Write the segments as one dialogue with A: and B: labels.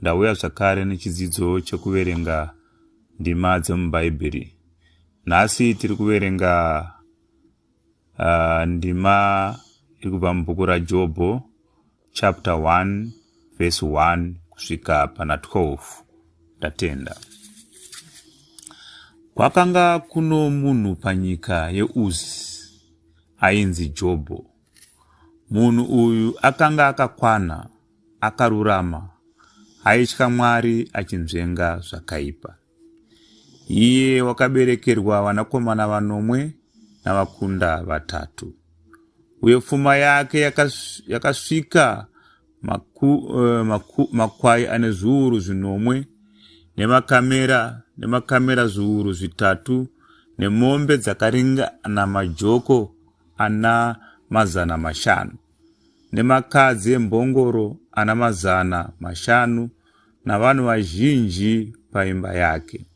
A: Ndauya zvakare nechidzidzo chekuverenga ndima dzemuBhaibheri. Nhasi tiri kuverenga uh, ndima iri kubva mubhuku raJobho chapter 1 verse 1 kusvika pana 12. Ndatenda. Kwakanga kuno munhu panyika yeUzi ainzi Jobho. Munhu uyu akanga akakwana akarurama aitya Mwari achinzvenga zvakaipa. Iye wakaberekerwa vanakomana vanomwe navakunda vatatu. Uye pfuma yake yakasvika maku, uh, maku, makwai ane zviuru zvinomwe nemakamera nemakamera zviuru zvitatu nemombe dzakaringana majoko ana mazana mashanu. nemakadzi embongoro ana mazana mashanu navanhu vazhinji paimba yake.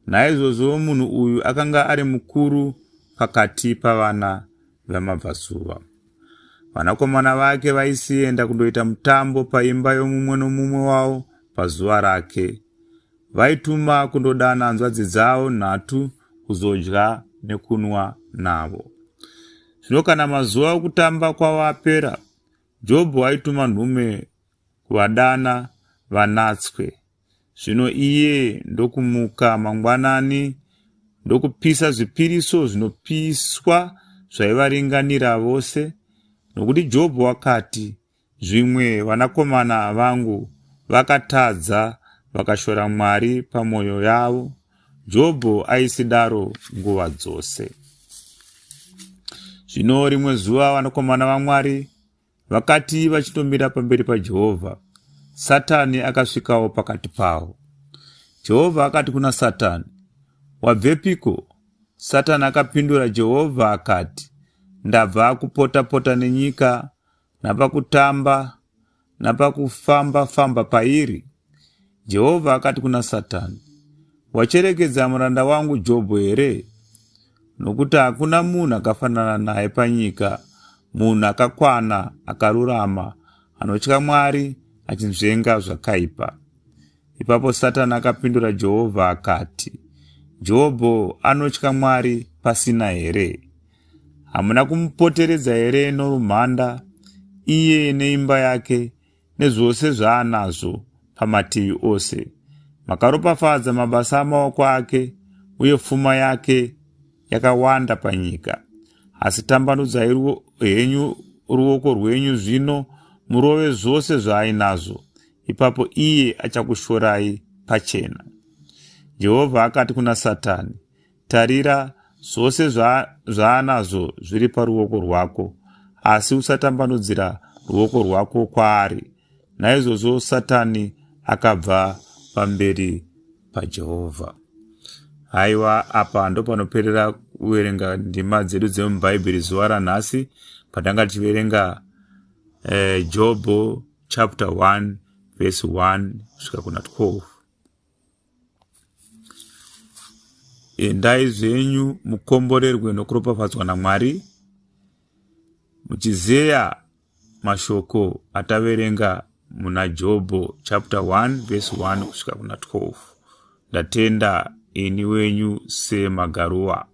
A: Naizvozvo munhu uyu akanga ari mukuru pakati pavana vamabvasuva. Vanakomana vake vaisienda kundoita mutambo paimba yomumwe nomumwe wavo pazuva rake, vaituma kundodana hanzvadzi dzavo nhatu kuzodya nekunwa navo. Zvino kana mazuva okutamba kwavo apera, Jobho aituma nhume kuvadana vanatswe. Zvino iye ndokumuka mangwanani ndokupisa zvipiriso zvinopiswa zvaivaringanira vose, nokuti Jobho wakati, Zvimwe vanakomana vangu vakatadza vakashora Mwari pamwoyo yavo. Jobho aisidaro nguva dzose. Zvino rimwe zuva vanakomana vaMwari vakati vachitomira pamberi paJehovha, Satani akasvikawo pakati pavo. Jehovha akati kuna Satani, Wabvepiko? Satani akapindura Jehovha akati, Ndabva kupota-pota nenyika napakutamba napakufamba-famba pairi. Jehovha akati kuna Satani, Wacherekedza muranda wangu Jobho here? Nokuti hakuna munhu akafanana naye panyika, munhu akakwana, akarurama, anotya Mwari, achinzvenga zvakaipa. Ipapo Satani akapindura Jehovha akati, Jobho anotya Mwari pasina here? Hamuna kumupoteredza here norumhanda, iye neimba yake, nezvose zvaanazvo pamativi ose? Makaropafadza mabasa amaoko ake, uye pfuma yake yakawanda panyika. Asi tambanudzai ruo, henyu ruoko rwenyu zvino murove zvose zvaainazvo, ipapo iye achakushorai pachena. Jehovha akati kuna Satani, Tarira, zvose zvaanazvo zva zviri paruoko rwako, asi usatambanudzira ruoko rwako kwaari. Naizvozvo Satani akabva pamberi paJehovha. Haiwa, apa ndopanoperera kuverenga ndima dzedu dzemubhaibheri zuva ranhasi patanga tichiverenga eh, jobho chapter 1 verse 1 kusvika kuna 12 endai zvenyu mukomborerwe nokuropafadzwa namwari muchizeya mashoko ataverenga muna jobho chapter 1 vese 1 kusvika kuna 12 ndatenda ini wenyu semagarua